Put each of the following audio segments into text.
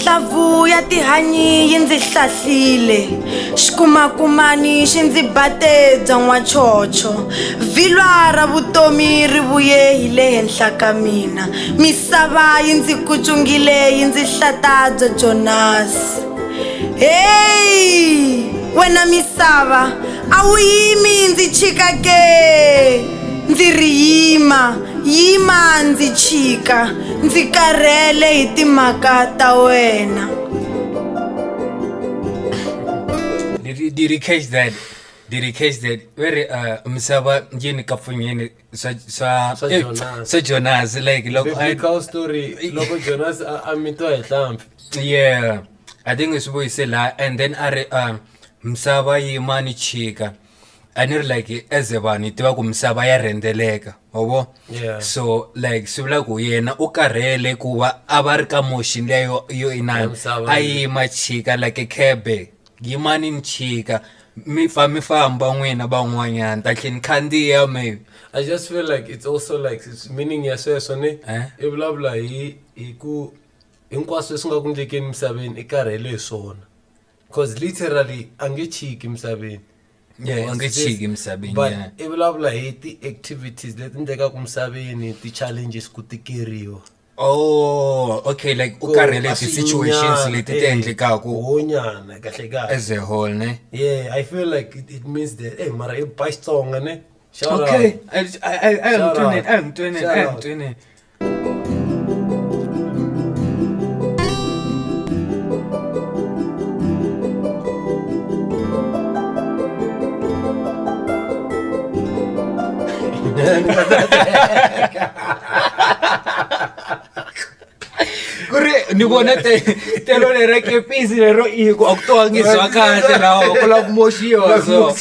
hlavu ya tihanyi yi ndzi hlahlile xikumakumani xi ndzi bate byon'wa chocho vhilwa ra vutomi ri vuye hi le henhla ka mina misava yi ndzi kucungile yi ndzi hlata byo jonasi heyi wena misava a wu yimi ndzi chika ke ndzi ri yima yima ndzi chika ndzi karhele hi timhaka ta wena did you catch that did you catch that where uh, misava njini kapfunyini swa swa swa eh, Jonas. swa Jonas like loko I- biblical story loko jonas a a mitiwa hi hlampfi yeah i think swi vuyise la and then a ri um misava yimani chika a ni ri like as a vanhu hi tiva ku misava ya rhendzeleka wa vo Yeah. so like swi vula ku yena u karhele ku va a va ri ka motion liya yo, yo Ya inani misava a leyi. yima chika like khebe yimani ni chika mi fa mi famba n'wina van'wanyana ta tlhe ni khandziya maybe I just feel like it's also like it's meaning ya sweswo ni Eh? i vulavula hi hi ku hinkwaswo leswi nga ku ndlekeni misaveni i karhele hi swona because literally a nge chiki misaveni Yeah, a nge chiki emisaveni, but yeah. i vulavula hi ti-activities leti endlekaku misaveni ti-challenges ku tikeriwa oh okay like u karhele ti-situations leti ti endlekaku honyana kahle kahle as a whole ne yeah i feel like it, it means that hey mara i ba xitsonga ne Shout out. okay I- I- I- I am Shout doing out. it, I am doing it, I Shout am out. doing it. kuri ni vona te- telo lera kepisi lero i ku a ku twangiswa kahle lawa ku lava ku moxiwa so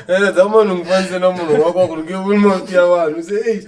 ene dza munhu ngifanise na munhu wa kwaku nge vuli mavito ya vanhu se ei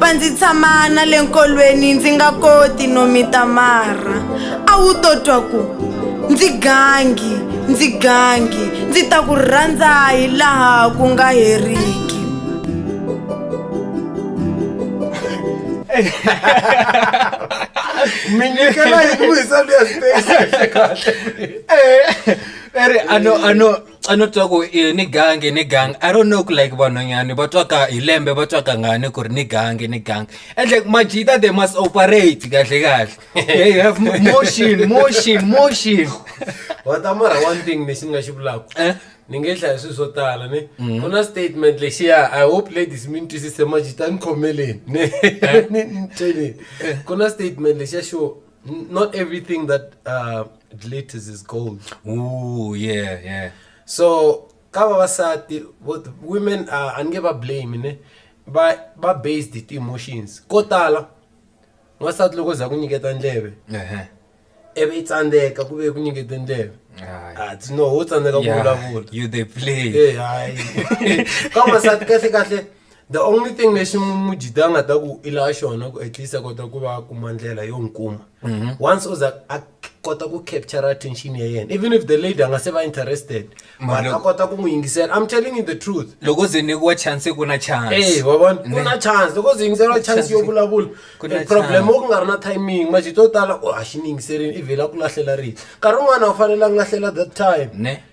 va ndzi tshama na le nkolweni ndzi nga koti no mita marha a wu to twa ku ndzi gangi ndzi gangi ndzi ta ku rhandza hi laha ku nga heriki minyikela yi ku hisa luyasipesi kahle eri ano ano xa no twa ku i ni gangi ni gangi i don't know ku like vanhwanyani va twa ka hi lembe va twa kangani ku ri ni gangi ni gangi ende majita they must operate kahle kahle they have motion motion motion wa ta mara one thing lexi ni nga xi vulaka eh? ni nge hlaya swilo swo tala ni mm-hmm. ku na statement lexiya i hope ladies mi ni twisise majita ni khomeleni ni ni ni ku na statement lexiya xo N- not everything that uh, glitters is gold Ooh, yeah yeah so ka vavasati vo- women uh, a ni nge va blame ne va va based hi ti-emotions ko tala n'wansati loko za ku nyiketa ndleve Ehe. ivi i tsandzeka ku ve ku nyikete ndleve Ayi. a ti no ho tsandzeka ku Yeah, vulavula you they play Eh, hayi ka n'wansati kahle kahle The only thing lexi mujita a nga ta ku i lava xona ku at least a kota ku va a kuma ndlela yo n'wi kuma mhm. once o za a kota ku capture attention ya yena even if the lady a nga se va interested but a kota ku n'wi yingisela i'm telling you the truth loko ze nyikiwa chance ku na chance eh wa vona ku na chance loko ze yingisela chance yo vulavula eh, problem wo ku nga ri na timing majito yo tala oh, a xi ni yingiselini i vhela ku lahlela rito nkarhi wun'wana a wu fanele a nga lahlela that time ne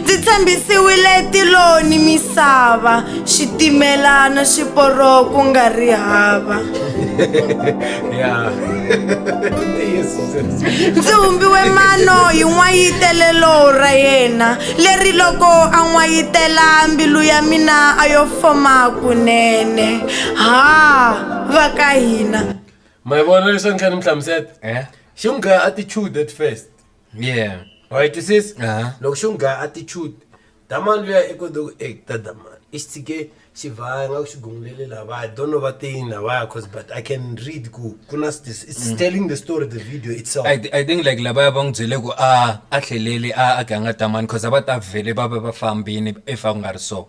ndzi tshembisiwile tilo ni misava xitimela na xiporo ku nga ri hava ndzi humbiwe mano hi n'wayitelelo ra yena leri loko a n'wayitela mbilu ya mina a yo foma kunene ha va ka hina ma yi vona leswi a ni kha ni mi hlamusela eh? xi n'wi gaya attitude at first yeah wa yi twisisa Aha. loko xi n'wi gaya attitude damani luya i kote ku e ta damani i xi tshike xi vhaya nga ku xi gungulele lavaya don't know va te yini lavaya cause but i can read ku ku na this it's telling the story the video itself I, I think like lavaya va n'wi byele ku a a tlheleli a a ganga tamani cause a va ta vhele va va va fambini if a ku nga ri so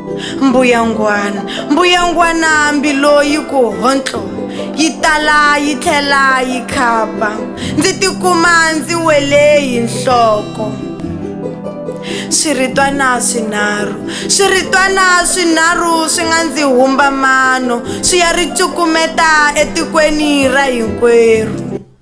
mbuyangwana mbuyangwana hambi loyi ku hontlo yi tala yi tlhela yi khapa ndzi tikuma ndzi wele hi nhloko swiritwana swinharhu swiritwana swinharhu swi nga ndzi humba mano swi ya ri cukumeta etikweni ra hinkwerhu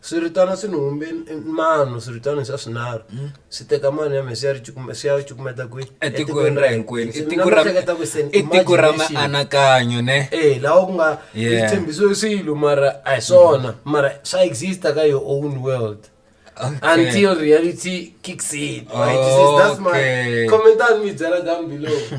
swiritano swi ni humbe mano swiritano swa swinharhu hmm? swi teka mano ya mina swi ya ri cukumeta kwihi etikweni ra hinkwenu i tiko ra mianakanyo ne e lawa ku nga tshembiso swilo mara a hi swona hmm. mara swa exista ka your own world Okay. until reality kicks in. Right? Okay. This is, that's my comment on me, Zara down below.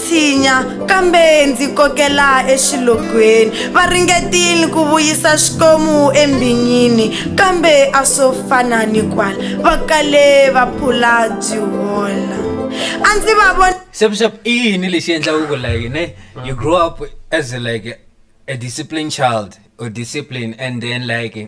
tshinya kambe ndzi kokela exilogweni va ringetile ku vuyisa xikomu embinyini kambe a swo fana ni kwala va kale va phula byi hola a ndzi va vona xep xep i yini lexi endlaka ku like ne you grow up as like a disciplined child or discipline and then like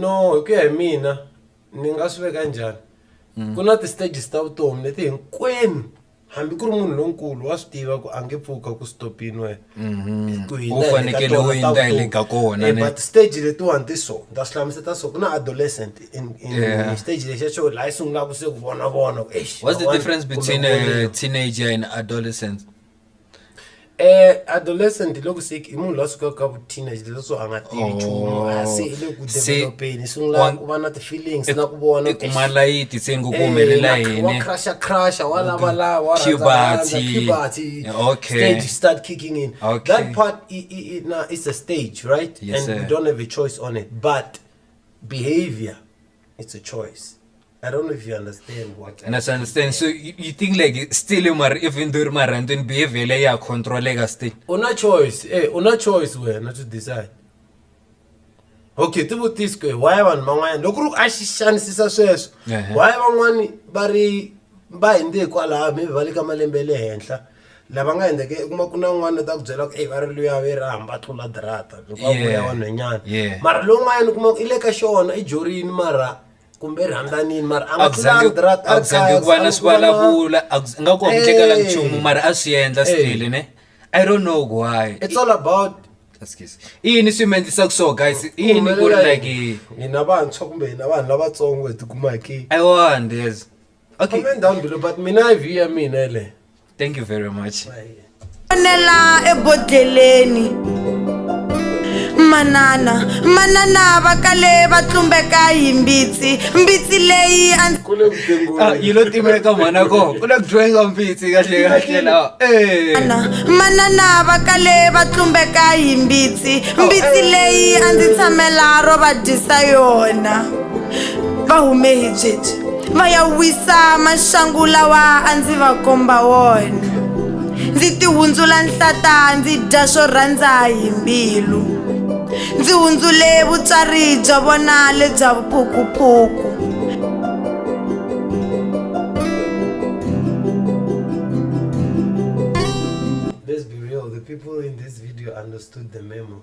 no hi ku ya hi mina ni nga swi veka njhani ku na ti-stages ta vutomi leti hinkwenu hambi ku ri munhu lonkulu wa swi tiva ku a nge pfuka ku stopini wena mhm. ku hina fanekele u yindla hi le ka kona eh, but stage letiwani ti so ni ta swi hlamuseta so ku na adolescent in stage lexiya xo laha yi sungulaka se ku vonavona what's the difference between a eh, teenager and adolescent Eh adolescent loko se i munhu la sukaka ka vu teenage leswo a nga tivi Oh. nchumu a se i le ku Se- developeni i sungula wa- ku va na ti-feelings na ku vona i kuma layiti se ngo ku humelela wa yini crusha crusha wa lava lava wa rhandza rhandza, Puberty. puberty Yeah, okay. stage start kicking in Okay. that part i, i, i, na, it's a stage right Yes, and we sir. don't have a choice on it but behavior it's a choice I don't know if you understand what and I understand. So you, you think like still you mar even though mar and then behavior like ya control like still. Una choice, eh, una choice we not to decide. Okay, tibu tisko why vanhu van'wana loko ri a xi xanisisa sweswo why van'wana va ri va hindze hikwalaho maybe va le ka malembe le henhla lava nga endleke i kuma ku na un'wana ta ku byela ku e va ri luya ve ra hamba tlula dirata loko a vuya vanhwenyana mara lowun'wanyana u kuma ku i le ka xona i jorini mara kumbe i rhandzanin mara a a zangi ku va na swivulavula a nga ku hunguteka nchumu mara a swi endla stile ne i don't know why it's all about i yini swi mi endlisaka so guys i yini ku ri like hina vantshwa kumbe hina vanhu lavatsongo hi tikumaki i wonders okay comment down below but mina i view ya mina yeleyo thank you very much onela ebodleleni manana manana va kale va tlumbeka hi mbitsi mbitsi leyi a ah, yi lo timeka mhana ko ku le ku dyiweka mbitsi kahle kahle lawa eh. manana va kale va tlumbeka hi mbitsi oh, mbitsi eh. leyi a ndzi tshamela ro va dyisa yona va hume hi byebyi ma ya wisa maxangu lawa a ndzi va komba wona ndzi tihundzula nhlata ndzi dya swo rhandza hi mbilu ndzi hundzule vutswari bya vona lebya vuphukuphuku Let's be real, the people in this video understood the memo.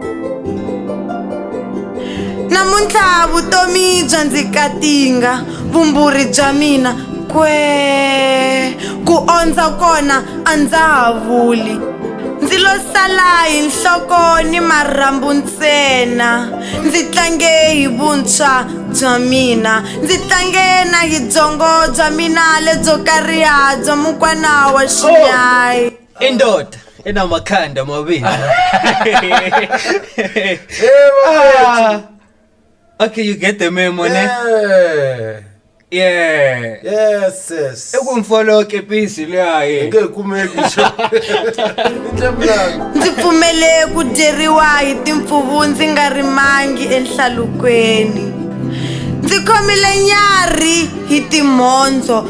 namuntlha vutomi bya ndzi katinga vumburi bya mina kwee ku ondza kona a ndza ha vuli ndzi lo sala hi nhloko ni marhambu ntsena ndzi tlange hi vuntshwa bya mina ndzi tlange na hi byongo bya mina lebyo kariha bya mukwana wa xinyayi indoda enamakhanda amabili Ah. okay you get the memo ne yeah yes yes ekumfoloke pisi leyaye ngeke kumeki sho ndzi pfumele ku dyeriwa hi timpfuvu ndzi nga rimangi enhlalukweni ndzi khomile nyarhi hi timhondzo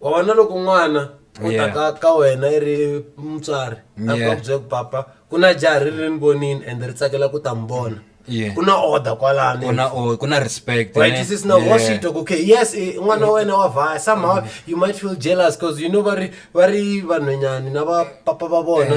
wa vona loko n'wana u ta ka ka wena i ri mutswari a ku a ku byela ku papa ku na jaha ri ri ni vonini and ri tsakela ku ta mi vona ku na order kwalani ku na respect right this is now what she talk okay yes n'wana wa wena wa vhaya somehow you might feel jealous because you know va ri va ri vanhwenyani na va papa va vona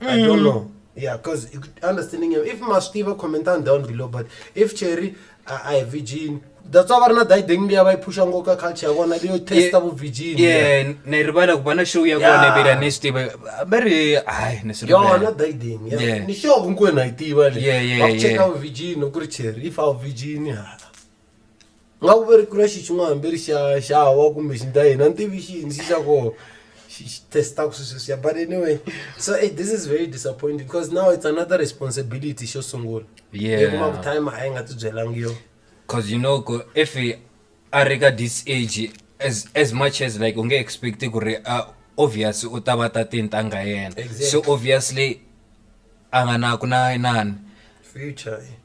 mm. i don't mm. know yeah because understanding him if mastiva commentan down below but if cherry uh, i virgin that's why varina daideng liya va yi phusha ngo ka culture ya vona leyo testa vu virgin ye ni rivala ku va na show ya kona vela ni swi tiva va ri hayi ni swi yona daideng ya ni show nkwena yi tiva leyi va cheka vu virgin ku ri cherry if a vu virgin ha nga ku ve ri ku na xi xin'wana hambi ri xa xa wa kumbe xi ndla yini a ni tivi xi ndzi xa koho xi xi testaku swi sweswiya but anyway so eh, this is very disappointing because now it's another responsibility xo sungula Yeah. Hi kuma ku time a yi nga ti byelangi yo cause you know ku if i- a ri ka this age as, as much as like u nge expect ku ri uh, obvious u ta va ta tintanga yena Exactly. so obviously a nga na ku na inani future eh.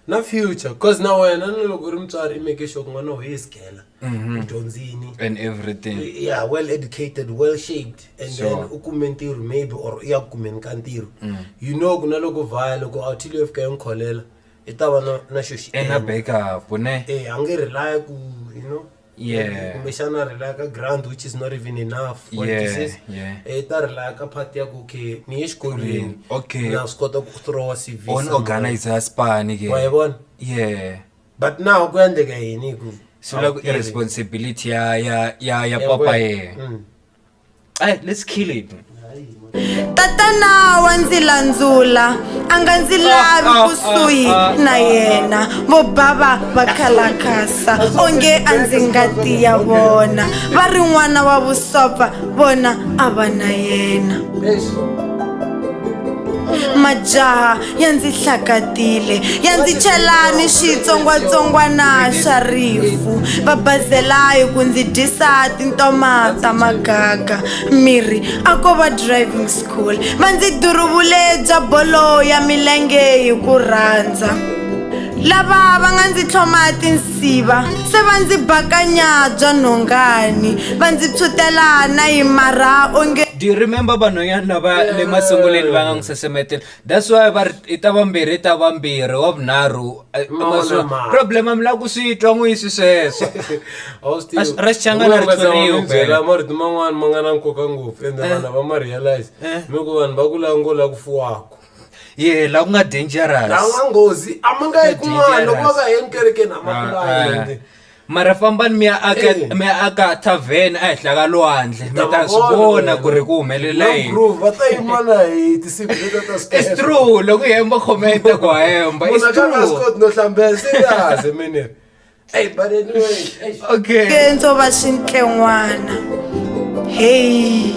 na future cause na wena na loko u ri mutswari i make sure ku n'wana wa yes gela Mhm. u dyondzini and everything yeah well educated well shaped and Sure. then u kume ntirho maybe or u ya ku kumeni ka ntirho Mm. you know ku na loko vhaya loko a thile yo fika yi n'wi kholela i ta va na na xo xi i nga endla. backup ne Eh, a nge rely ku you know yeah kumbexana ri laka grant which is not even enough for yeah, disease yeah. e ta ri laka part ya ku okay ni ye xikolweni okay na swi kota ku throwa cv on organize a spani ke wa yi vona yeah but now ku endleka yini ku so la ku responsibility ya ya ya ya papa ye mm. Hey, eh, let's kill it. tatana wa ndzi landzula a nga ndzi lavi ah, ah, kusuhi ah, na yena vo bava va khalakasa onge a ndzi ngati ya vona va ri n'wana wa vusopa vona a va na yena majaha ya ndzi hlakatile ya ndzi chelani xitsongwatsongwana xa rifu va bazelayi ku ndzi dyisa tintoma ta magaga miri a ko va driving school va ndzi duruvule bya bolo ya milenge hi ku rhandza lava va nga ndzi tlhoma tinsiva se va ndzi bakanya bya nhongani va ndzi tshutela na yi marha onge do you remember vanhwanyana lava le masunguleni va nga n'wi sesemetela that's why va ri i ta vambirhi i ta vambirhi wa vunharhu eh, Ma ma- swi- ma- problem mi lava ku swi twa n'wi yi swi sweswo A swi- ra xichangana ri tshweriwe phela. byela marito man'wana ma nga na nkoka ngopfu ende vanhu lava ma realize Eh. mi ku vanhu va ku lava ngo la ku fuwako ye la ku nga dangerous lawa nghozi a ma nga yi kun'wana loko va nga heni kerekeni a ma Ah, ah. kulanga mara fambani mi ya aka Eh. mi ya aka tavern ehenhla ka lwandle mi ta swi vona ku ri ku humelela yini groove va ta yima na hi tinsimu leta ta It's skepe. true loko hi hemba khometa ku hemba It's Munhu a ka nga swi true koti no hlambela serious mini eyi but anyway eish. okay kendzo va swintlen'wana heyi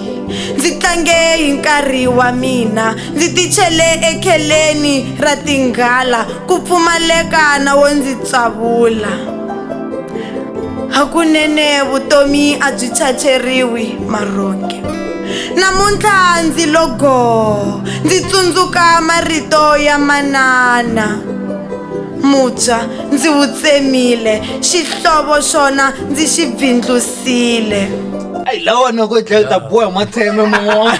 ndzi tlange hi nkarhi wa mina Ndzi tichele ekheleni ra tinghala ku pfumaleka na wo ndzi tsavula. Hakunene vutomi a byi chacheriwi marhonge. Namuntlha ndzi lo goo, ndzi tsundzuka marito ya manana. Mubya ndzi wu tsemile, xihlovo xona ndzi xi bvindlusile. tile ayi lawa noko yi dlaya u ta boha matsheme man'wana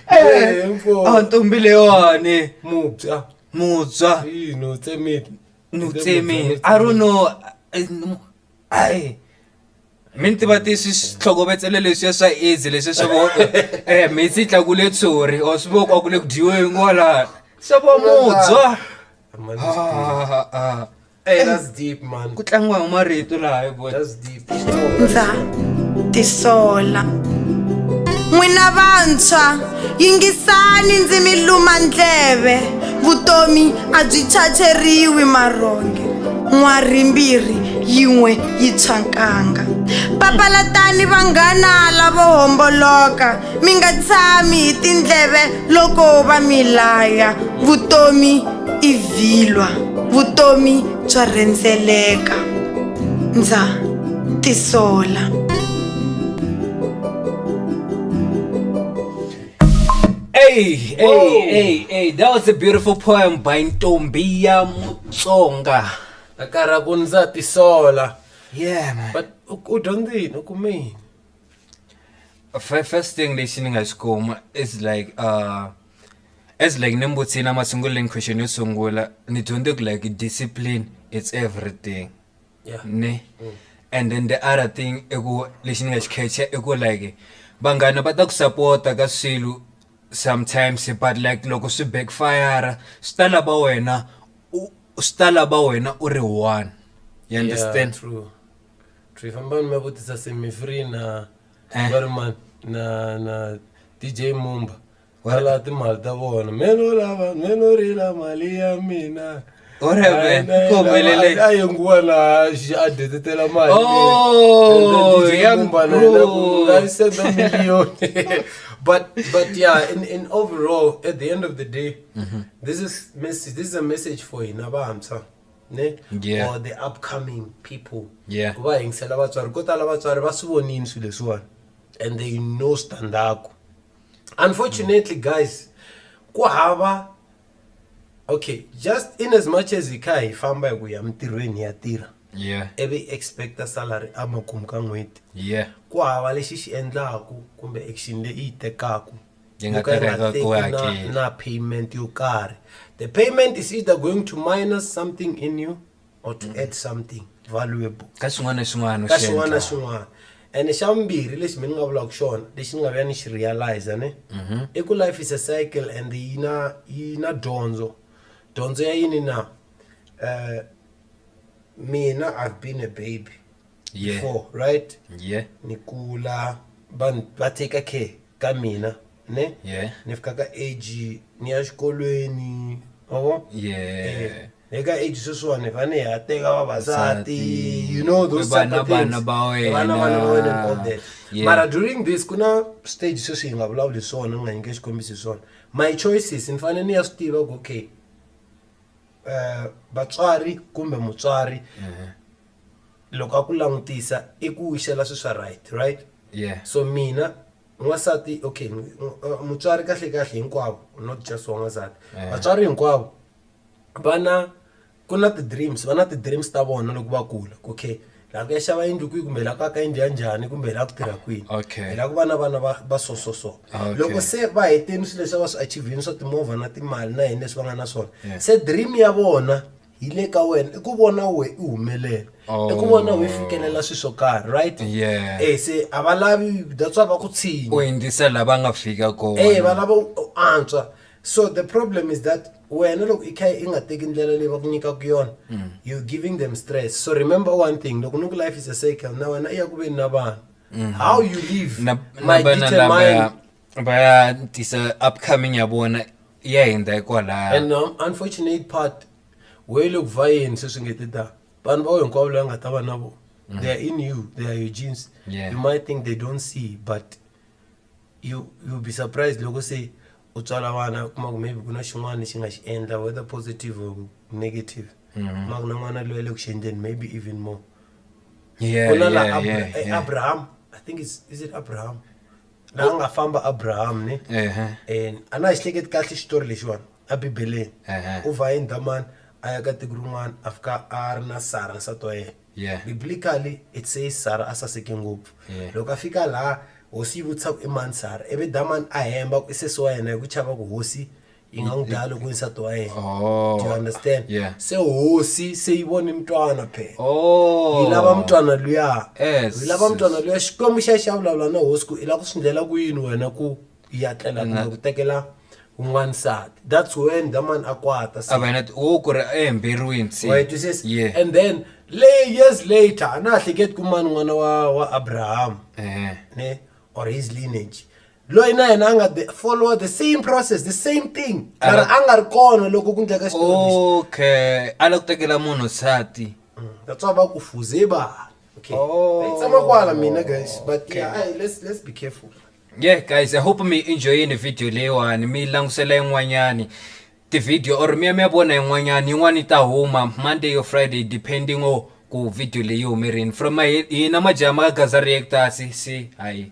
Eh, mfo. a ntombi leyiwani mubya mutswa yini u tsemile ni u tsemile i don't know eh, no, ayi mi ni tiva ti swi tlhokovetsele leswiya swa aids leswi swa vo eh mitsi yi tlakule tshori or swi voko a ku le ku dyiweni kwalani swa vo mutswa Ah, ah, ah. Hey, that's deep, man. Ku tlangiwa hi marito laha hi boy. That's deep. Ndza tisola. N'wina vantshwa, yingisani ndzi mi luma ndleve. Vutomi a byi chacheriwi marhonge. N'wari mbirhi yin'we yi tshwa nkanga. Papalatani vanghana lavo homboloka, mi nga tshami hi tindleve loko va mi laya. Vutomi i vhilwa vutomi bya rhendzeleka ndza tisola Hey, hey, hey, hey, that was a beautiful poem by Ntombi ya Mutsonga. Akara ku ndza tisola. Yeah, man. But u dyondze yini u kume yini? First thing lexi ni nga xi kuma is like uh As like ni mbuti na masunguleni question yo sungula ni dyondze ku like discipline it's everything Yeah. ne Mm. and then the other thing i ku lexi ni nga xi khecha i ku like vanghana va ta ku sapota ka swilo sometimes but like loko swi backfire swi ta lava wena u- swi ta lava wena u ri one you understand Yeah, true. True. Fambani mi ya vutisa Semi Free na Eh. va ri ma na na DJ Mumba. va lava timali ta vona me no lava me no rila mali ya mina a yenguwa na a detetela malimbanaisenda oh, million but but yeah in, in overall at the end of the day mm -hmm. this is message this is a message for hina vantshwa ne yeah. or the upcoming people yeah. ku va yingisela vatswari ko tala vatswari va swi vonini swilo leswiwani and they know standaku unfortunately guys ku hava okay just in as much as hi kha hi famba hi ku ya mintirhweni hi ya tirha yeah ivi hi expecta salary emakumu ka n'hweti yeah ku hava lexi xi endlaku kumbe action leyi yi tekaku Yi nga yo ka yi nga tereka teki ku na- hakela. na payment yo karhi the payment is either going to minus something in you or to mm. add something valuable ka swin'wana na swin'wana ka swin'wana na swin'wana and xa vumbirhi lexi mi ni nga vulaka xona lexi ni nga vuya ni xi realize ne mm-hmm. i ku life is a cycle and yi na yi na dyondzo dyondzo ya yini na um mina i've been a baby yeah. before right yeah. ni kula va take care ka mina Ne? Yeah. Ni fika ka age ni ya xikolweni ma vo yeah le ka age sweswiwani vane hi ya teka vavasati you know those type of things vana va wena and all that mara during this ku na stage sweswi hi nga vulavuli swona ni nga nyike xikombiso hi swona my choices ni fanele ni ya swi tiva ku okay um vatswari kumbe mutswari loko a ku langutisa i ku xela swi swa right right yeah so mina n'wansati okay uh, mutswari kahle kahle hinkwavo not just wa n'wansati eh. vatswari hinkwavo vana ku na ti-dreams va na ti-dreams ta vona loko va kula okay laha ku ya xava yindlu kwihi kumbe laha ku aka yindlu ya njhani kumbe laha ku tirha kwini hi laha ku va na vana va va so so so loko se va heteni swilo leswi va swi achivhini swa timovha na timali na yini leswi va nga na swona se dream ya vona yi le ka wena i ku vona we i humelela i ku vona we fikelela swi swo karhi right Yeah. eh se a va lavi that's why va ku tshinya u yingisa la va nga fika eh kona va lava u u antswa so the problem is that wena loko i kha i nga teki ndlela leyi va ku nyikaka yona you're giving them stress so remember one thing loko ni ku life is a cycle na wena i ya ku veni na vanhu how you live na na might vana determine lavaya va ya tisa upcoming ya vona ya hindza hikwalaho and um, unfortunate part we loko va yini sweswi nge ti ta vanhu va we hinkwavo leyi nga ta va na vona mm. they are in you they are your genes yeah. you might think they don't see but you you be surprised loko se u tswala vana kuma ku maybe ku na xin'wana lexi nga xi endla whether positive or negative mm -hmm. ma ku na n'wana loyi le ku xi endleni maybe even more yeah, ku na yeah, la yeah, eh, yeah. abraham i think it's, is it abraham laha nga famba abrahamu ne ehe and a na hi hleketi kahle xitori lexiwani a bibeleni Ehe. u va hi ndhamani a ya ka tiko rin'wana a fika a ri na sara nsati wa yena Yeah. biblically it says sara a saseke ngopfu Yeah. loko a fika laha hosi yi vutisa ku i mani sara ivi damani a hemba ku i sesi wa yena hi ku chava ku hosi yi nga n'wi dlaya loko nsati wa yena oh. do you understand yeah. se hosi se yi vone mutwana phela oh. yi lava mutwana luya yes. yi lava mutwana luya xikwembu xa xa vulavula na hosi ku i lava ku swi ndlela ku yini wena ku ya tlela kumbe ku tekela un'wana sati that's when the man a kwata se avana wo ku ri ehemberiweni se wa twisisa yeah. and then lay years later a na hleketi ku mani n'wana wa wa abraham eh. ne or his lineage loyi na yena a nga the- follow the same process the same thing mara a nga ri kona loko ku ndleka xitori Oh. lexi okay a la ku tekela munhu nsati that's why va ku fuze ba okay Oh. Hi tshama kwala mina guys but Okay. yeah ayi, let's let's be careful yeah guys i hope mi enjoyini video leyiwani mi langutisela yin'wanyani Ti-video or mi ya mi ya vona yin'wanyani yin'wani yi ta huma Monday or Friday depending or ku video leyi yi hume rini from hina majaha ma ka gaza reactor se se hayi .